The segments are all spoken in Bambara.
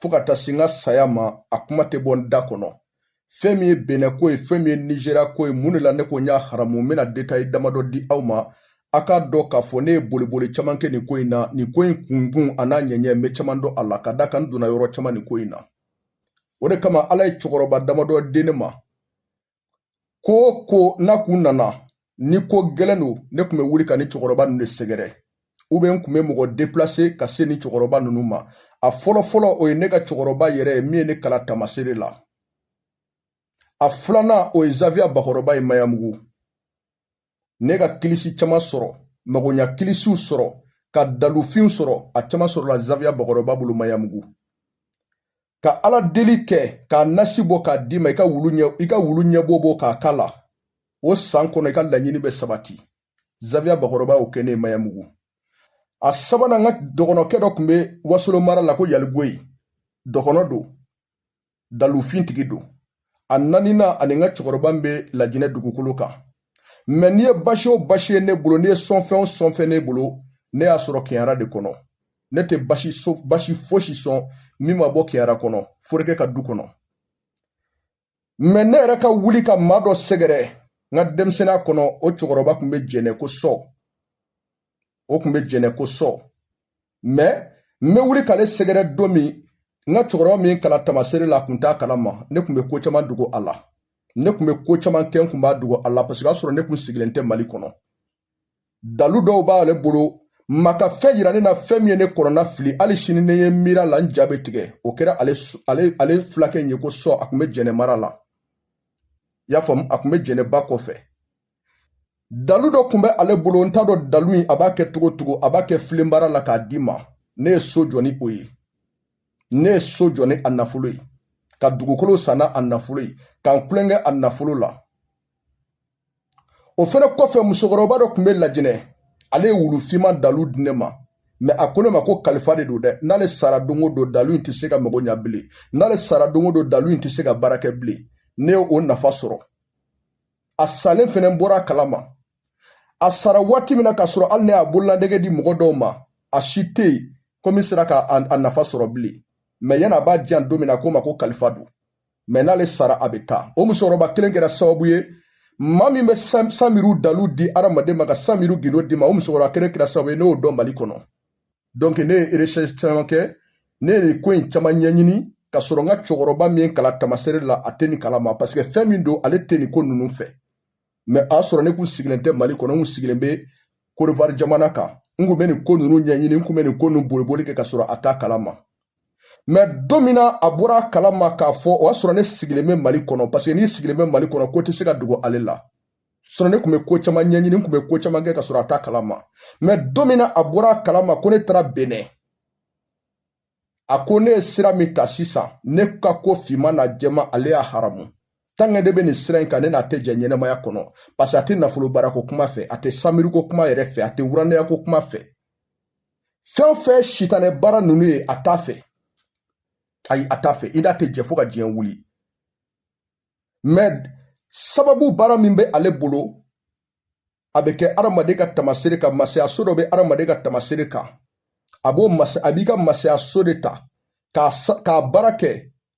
fo ka taa se n ka saya ma a kuma tɛ bɔ n da kɔnɔ fɛn min ye benɛn ko ye fɛn min ye nizeriya ko ye mun de la ne ko n y'a haramu n bɛna detayi damadɔ di aw ma a k'a dɔn k'a fɔ ne ye boliboli caman kɛ nin ko in na nin ko in kunkun an'a ɲɛɲɛ n bɛ caman dɔn a la ka d'a kan n donna yɔrɔ caman nin ko in na o de kama ala ye cɛkɔrɔba damadɔ di ne ma ko o ko n'a kun nana ni ko gɛlɛn don ne kun bɛ wuli ka ni cɛkɔrɔba ninnu de sɛgɛrɛ ou bien n kun bɛ mɔgɔ deplase ka se ni cɛkɔrɔba ninnu ma a fɔlɔfɔlɔ o ye ne ka cɛkɔrɔba yɛrɛ ye min ye ne kalan taamaseere la a filanan o ye zaviya bakɔrɔba ye mayamugu ne ka kilisi caman sɔrɔ magoɲa kilisiw sɔrɔ ka dalufinw sɔrɔ a caman sɔrɔla zaviya bakɔrɔba bolo mayamugu ka ala deli kɛ k'a nasi bɔ k'a d'i ma i ka wulu ɲɛ i ka wulu ɲɛbo bɔ k'a k'a la o san kɔnɔ i ka laɲini bɛ sabati zaviya bakɔrɔba y'o kɛ ne ye mayamugu a sabanan n ka dɔgɔnɔkɛ dɔ kun bɛ wasolo mara la ko yaligoyi dɔgɔnɔ don dalufintigi don a naaninan ani n ka cɛkɔrɔba bɛ lajinɛ dugukolo kan mɛ n'i ye basi o basi ye ne bolo n'i ye sɔnfɛn o sɔnfɛn ne bolo ne y'a sɔrɔ kɛɲara de kɔnɔ ne tɛ basi so basi fosi sɔn min ma bɔ kɛɲara kɔnɔ forokɛ ka du kɔnɔ mɛ ne yɛrɛ ka wuli ka maa dɔ sɛgɛrɛ n ka denmisɛnninya kɔnɔ o cɛkɔrɔba kun bɛ jɛnɛ ko sɔ o kun bɛ jɛnɛ ko sɔ mɛ n bɛ wuli k'ale sɛgɛrɛ don min n ka cɛkɔrɔba min kalan taamaseere la a kun t'a kalama ne kun bɛ ko caman dogo a la ne kun bɛ ko caman kɛ n kun b'a dogo a la parce que y'a sɔrɔ ne kun sigilen tɛ mali kɔnɔ dalu dɔw b'ale bolo maa ka fɛn yira ne na fɛn min ye ne kɔnɔnafili hali sini ne ye miiri a la n ja bɛ tigɛ o kɛra ale ale ale fulakɛ in ye ko sɔ a kun bɛ jɛnɛ mara la i y'a faamu a kun bɛ jɛnɛ ba kɔfɛ dalu dɔ kun bɛ ale bolo n t'a dɔn dalu in a b'a kɛ cogo cogo a b'a kɛ filenbara la k'a d'i ma ne ye so jɔ ni o ye ne ye so jɔ ni a nafolo ye ka dugukolo san n'a nafolo ye ka n kulonkɛ a nafolo la o fɛnɛ kɔfɛ musokɔrɔba dɔ kun bɛ lajinɛ ale ye wulu finman dalu di ne ma mɛ a ko ne ma ko kalifa de don dɛ n'ale sara don o don dalu in tɛ se ka mago ɲa bilen n'ale sara don o don dalu in tɛ se ka baara kɛ bilen ne ye o nafa sɔrɔ a salen fɛnɛ bɔra a kalama a sara waati min na k'a sɔrɔ hali ne y'a bololadege di mɔgɔ dɔw ma a si tɛ yen ko min sera ka a nafa sɔrɔ bilen mɛ yan'a b'a di yan don min na ko n ma ko kalifa don mɛ n'ale sara a bɛ taa o musokɔrɔba kelen kɛra sababu ye maa min bɛ sanbiriw dalu di adamaden ma ka sanbiriw gindo d'i ma o musokɔrɔba kelen kɛra sababu ye ne y'o dɔn mali kɔnɔ ne ye recherche caman kɛ ne ye nin ko in caman ɲɛɲini ka sɔrɔ n ka cɛkɔrɔba min ye n kalan tamasere la a tɛ nin kalama paseke fɛn min don ale tɛ nin ko ninnu fɛ mɛ a y'a sɔrɔ ne kun sigilen tɛ mali kɔnɔ n kun sigilen bɛ kɔdiwari jamana kan n kun bɛ nin ko ninnu ɲɛɲini n kun bɛ nin ko ninnu boliboli kɛ ka sɔrɔ a t'a kalama mɛ don min na a bɔra a kalama k'a fɔ o y'a sɔrɔ ne sigilen bɛ mali kɔnɔ paseke n'i sigilen bɛ mali kɔnɔ ko tɛ se ka dogo ale la sinɔn ne kun be ko caman ɲɛɲini n kun be ko caman kɛ ka sɔrɔ a t'a kalama mɛ don min na a bɔra a kalama ko ne taara benɛn a ko ne ye sira min ta sisan ne ka ko finman n'a jɛman ale y'a haramu tanke ne be nin sira in kan ne n'a tɛ jɛ ɲɛnamaya kɔnɔ paseke a tɛ nafolo baarako kuma fɛ a tɛ samiruko kuma yɛrɛ fɛ a tɛ wuranɛyako kuma fɛ fɛn o fɛn sitanɛ baara nunu ye a t'a fɛ ayi a t'a fɛ i n'a tɛ jɛ fo ka diɲɛ wuli mɛ sababu baara min bɛ ale bolo a bɛ kɛ adamaden ka tamasere kan masayaso dɔ bɛ adamaden ka tamasere kan a b'o masa a b'i ka masayaso de ta k'a baara kɛ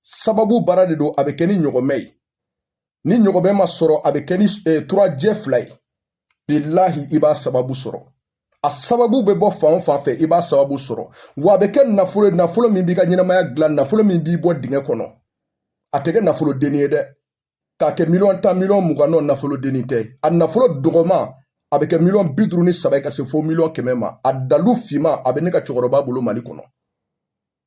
sababu baara de don a bɛ kɛ ni ɲɔgɔmɛ ye ni ɲɔgɔmɛ ma sɔrɔ a bɛ kɛ ni turajɛ fila ye bilahi i b'a sababu sɔrɔ a sababu bɛ bɔ fan o fan fɛ i b'a sababu sɔrɔ wa a bɛ kɛ nafolo ye nafolo min b'i ka ɲɛnamaya dilan nafolo min b'i bɔ dingɛ kɔnɔ a tɛ kɛ nafolo denni ye dɛ k'a kɛ miliyɔn tan miliyɔn mugan nɔn nafolo denni tɛ a nafolo dɔgɔman a bɛ kɛ miliyɔn bi duuru ni saba ye ka se fo miliyɔn kɛmɛ ma a dalu finman a bɛ ne ka cɛkɔrɔba bolo mali kɔnɔ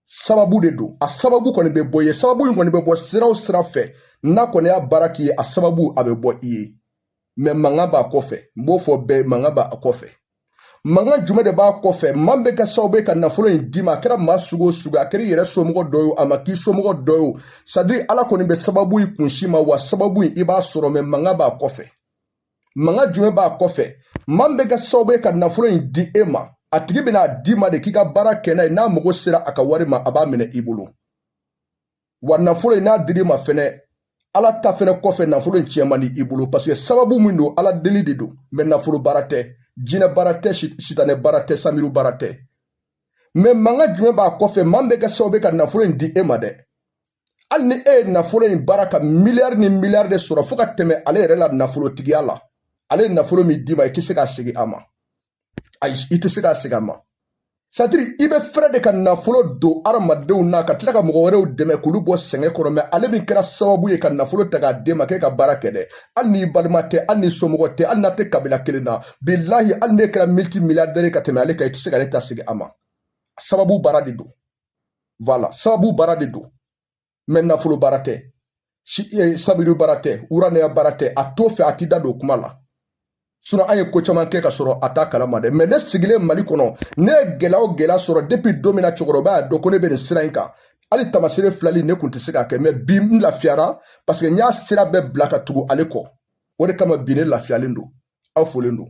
sababu de don a sababu kɔni bɛ bɔ i ye sababu in kɔni bɛ bɔ sira o sira fɛ n'a kɔni y'a baara k'i ye a sababu a bɛ bɔ i ye mɛ mankan b'a kɔfɛ n b'o fɔ bɛɛ mankan b'a kɔfɛ mankan jumɛn de b'a kɔfɛ maa min bɛ kɛ sababu ye ka nafolo in d'i ma a kɛra maa sugu o sugu a kɛra i yɛrɛ somɔgɔ dɔ ye a ma k'i somɔgɔ dɔ ye sadiri ala kɔni bɛ sababu in kunsin i ma wa sababu in i b'a sɔrɔ mɛ mankan b'a kɔfɛ mankan jumɛn b'a kɔfɛ maa min bɛ kɛ sababu ye ka nafolo in di e ma a tigi bɛna a d'i ma de k'i ka baara kɛ n'a ye n'a mago sera a ka wari ma a b'a minɛ i bolo wa nafolo in n'a dir'i ma fɛnɛ ala ta fɛnɛ kɔfɛ nafolo in tiɲɛ man di i bolo paseke sababu min don ala deli de don mɛ nafolo baara tɛ jinɛ baara tɛ sitanɛ baara tɛ samiru baara tɛ mɛ mankan jumɛn b'a kɔfɛ maa min bɛ kɛ sababu ye ka nafolo in di e ma dɛ hali ni e ye nafolo in baara ka miliyari ni miliyari de sɔrɔ fo ka tɛmɛ ale yɛrɛ la nafolotigiya la ale ye nafolo min d'i ma i tɛ se k'a segin a ma ayi i tɛ se k'a segin a ma sadiri i bɛ fɛrɛ de ka nafolo don adamadenw na ka tila ka mɔgɔ wɛrɛw dɛmɛ k'olu bɔ sɛgɛn kɔrɔ mɛ ale min kɛra sababu ye ka nafolo ta k'a d'e ma k'e ka baara kɛ dɛ hali n'i balima tɛ hali n'i somɔgɔ tɛ hali n'a tɛ kabila kelen na bilahi hali ne kɛra multimilliardaire ka tɛmɛ ale kan i tɛ se ka ne ta segin a ma sababu baara de don voilà sababu baara de don mais nafolo baara tɛ eh, sabiri baara tɛ uranɛya baara tɛ a t'o fɛ a t'i da don kuma la sinon an ye ko caman kɛ ka sɔrɔ a t'a kalama dɛ mais ne sigilen mali kɔnɔ ne ye gɛlɛya o gɛlɛya sɔrɔ depuis don min na cɛkɔrɔba y'a dɔn ko ne bɛ nin sira in kan hali tamasere filali ne kun tɛ se k'a kɛ mais bi n lafiyara parce que n y'a sira bɛɛ bila ka tugu ale kɔ o de kama bi ne lafiyalen don aw folen don